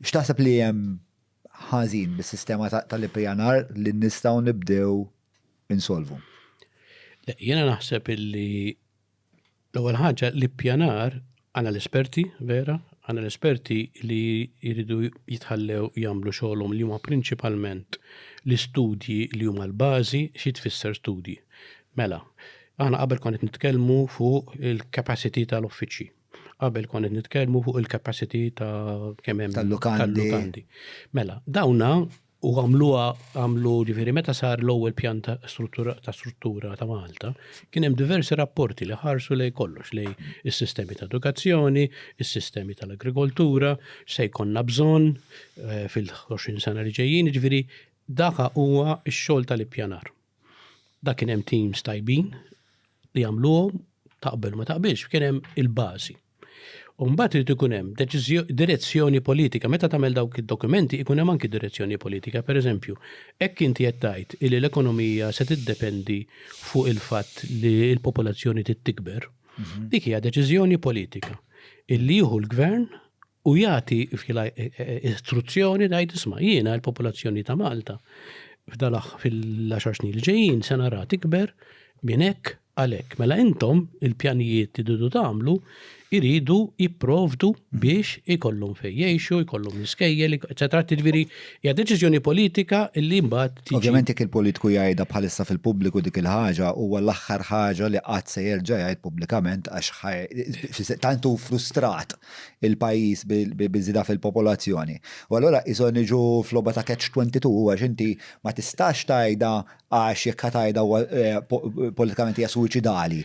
X'taħseb li hemm ħażin bis-sistema tal-ippjanar li nistgħu nibdew insolvu? Jiena naħseb illi l-ewwel ħaġa l-ippjanar għandna l-esperti vera, għandna l-esperti li jridu jitħallew jagħmlu xogħolhom li huma prinċipalment l-istudji li huma l-bażi xi tfisser studji. Mela, aħna qabel kont qed nitkellmu fuq il-capacity tal-uffiċċji. Qabel kont qed nitkellmu fuq il-capacity ta' kemm hemm tal-lukandi. Mela, dawna u għamluha għamlu ġifieri meta sar l-ewwel pjan ta' struttura ta' struttura ta' Malta, kien hemm diversi rapporti li ħarsu lej kollox lej is-sistemi ta' edukazzjoni, is-sistemi tal-agrikoltura, se jkollna bżonn eh, fil-20 sena li ġejjin, ġifieri daka huwa x-xogħol tal-ippjanar. Dak kien hemm teams tajbin li jagħmluhom taqbel ma taqbilx, kien hemm il-bażi. U mbagħad irid ikun hemm direzzjoni politika. Meta tagħmel dawk id-dokumenti ikun hemm anki direzzjoni politika. Pereżempju, hekk inti qed tgħid li l-ekonomija se tiddependi fuq il-fatt li l-popolazzjoni trid tikber. Mhm. Dik hija deċiżjoni politika. Illi jieħu l-gvern u jagħti istruzzjoni ngħid isma' jiena l-popolazzjoni ta' Malta f'dalaħ fil-10 snin li ġejjin se nara tikber minn hekk għalhekk. Mela intom il-pjanijiet li dudu tagħmlu iridu jipprovdu biex ikollhom fejn jgħixu, jkollhom l-iskejjel, eċetera. Tiġifieri hija deċiżjoni politika li mbagħad tiġi. Ovvjament jekk il-politiku jgħidha bħalissa fil-pubbliku dik il-ħaġa huwa l-aħħar ħaġa li qatt se jerġa' jgħid pubblikament għax tant hu frustrat il-pajjiż biż-żieda fil-popolazzjoni. U allura qishom niġu f'logħba ta' catch 22 huwa x'inti ma tistax tgħidha għax jekk ħa tgħidha huwa politikament hija suwiċidali.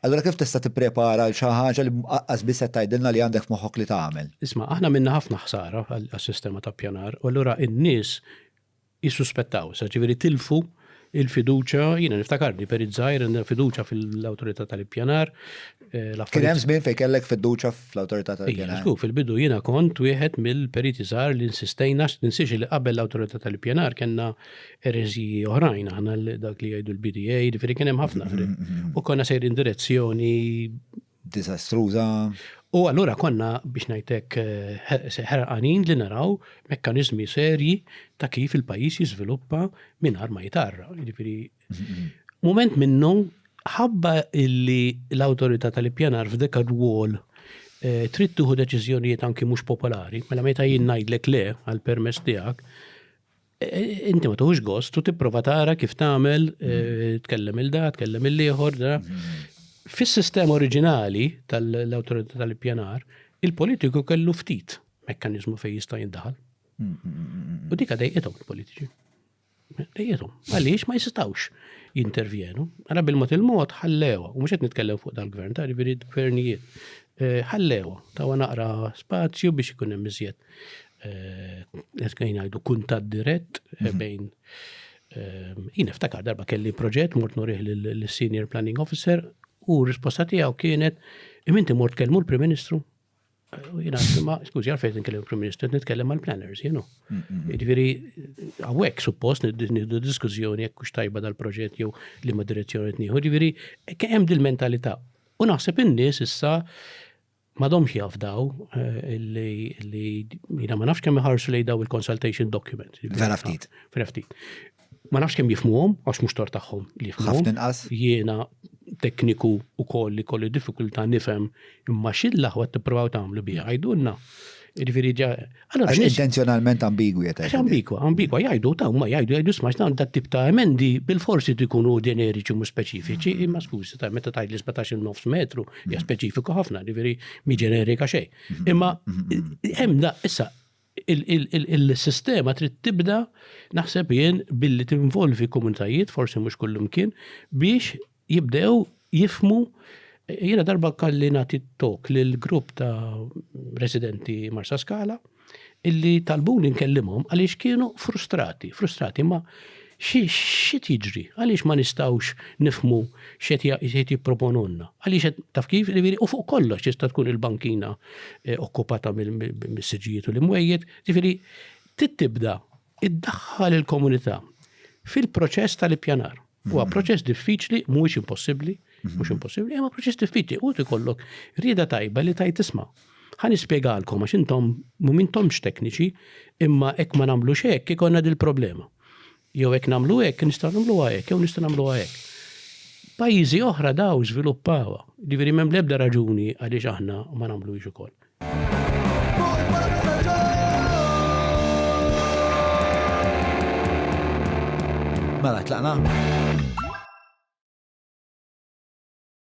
Allura kif tista' tipprepara għal xi ħaġa li aqqas biss qed tgħidilna li għandek f'moħħok li tagħmel? Isma', aħna minna ħafna ħsara għas-sistema ta' ppjanar u allura n-nies jissuspettaw, sa ġifieri tilfu il-fiduċja, jiena niftakarni perit żgħir għandna fiduċja fil-Awtorità tal-Ippjanar. Eh, Kien hemm żmien fejn kellek fiduċja fl-Awtorità tal-Ippjanar. Żgur, fil-bidu jiena kont wieħed mill-periti żgħar li insistejna ninsiex li qabel l-Awtorità tal-Ippjanar kellna ereżiji oħrajn aħna dak li jgħidu l-BDA, ġifieri kien hemm ħafna. Mm-hmm, mm-hmm. U konna sejrin direzzjoni diżastruża. U allura konna, biex ngħid hekk, ħerqanin li naraw mekkaniżmi serji ta' kif il-pajjiż jiżviluppa mingħajr ma jitgħarra. Jiġifieri mument minnu ħabba illi l-awtorità tal-ippjanar f'dik ir-rwol eh, trid tieħu deċiżjonijiet anki mhux popolari, mela meta jien ngħidlek le għall-permess tiegħek, inti ma tuħux gost u tipprova tara kif tagħmel eh, tkellem il da, tkellem il-ieħor da. Fis-sistema oriġinali tal-awtorità tal-ippjanar, il-politiku kellu ftit mekkanizmu fejn jista' jindaħal. U dika dejqithom il-politiċi. Dejqithom. Għaliex ma jistawx jintervjenu. Għara bil-mot il-mod ħallewa, u mhux qed nitkellem fuq dal-gvern, ta' ġifieri gvernijiet. Eh, ħallewa, ta' naqra spazju biex ikun hemm iżjed Neskajn għajdu kuntat dirett mhm. bejn jien iftakar darba kelli proġett mort nurih l-Senior Planning Officer u risposta tiegħu kienet iminti mort kelmu l-Prim Ministru jina ma, skużi, għalfejn nitkellem il-Prim Ministru, nitkellem mal planners jenu. Ġviri, għawek suppost niddu diskussjoni jekk kux tajba dal-proġett jew li ma direzzjoni t-nieħu, ġviri, kem dil-mentalità. U naħseb in-nies issa m'għadhomx jafdaw li jiena ma nafx kemm iħarsu lejn daw il-consultation document. Vera ftit. Vera ftit. Ma nafx kemm jifmuhom għax mhux tor tagħhom li jifmuhom. inqas. Jiena tekniku wkoll li kolli diffikultà nifhem imma xi l-aħwa tipprovaw tagħmlu biha għajdulna. Jiġifieri Allora, intenzjonalment ambigwi qed għajdu. Ambigwa, ambigwa jgħidu ta' ma jgħidu jgħidu smax dawn dat tip ta' emendi bil-forsi tikunu ġeneriċi mhux speċifiċi, mm. imma skużi ta' meta tgħid li 17 nofs metru hija mm. speċifiku ħafna, ġifieri mi ġenerika xejn. Mm-hmm. Imma mm-hmm. hemm da issa il-sistema trid tibda naħseb jien billi tinvolvi komunitajiet, forsi mhux kullum kien, biex jibdew jifmu jiena darba kalli nagħti tok lil grupp ta' residenti Marsa Skala illi talbuni nkellimhom għaliex kienu frustrati, frustrati ma xit jiġri, għaliex ma nistawx nifmu xet jipproponunna, għaliex taf kif li u fuq kollox jista' tkun il-bankina eh, okkupata mill-siġijiet u l-imwejjed, ġifiri tittibda Iddaħħal il-komunità fil-proċess tal-ippjanar. Huwa mhm. proċess diffiċli, mhuwiex impossibbli, mhm. mhux impossibbli, imma proċess diffiċli u tikollok rieda tajba li tajt tisma'. Ħa nispjegalkom għax intom mhumiex tekniċi, imma hekk ma nagħmlu hekk ikonna dil-problema. Jew hekk nagħmlu hekk nistgħu nagħmlu hekk, jew nistgħu nagħmlu hekk. Pajjiżi oħra daw żviluppawa, ġifieri m'hemm l-ebda raġuni għaliex aħna ma nagħmlu ukoll. Mela, tlaqna?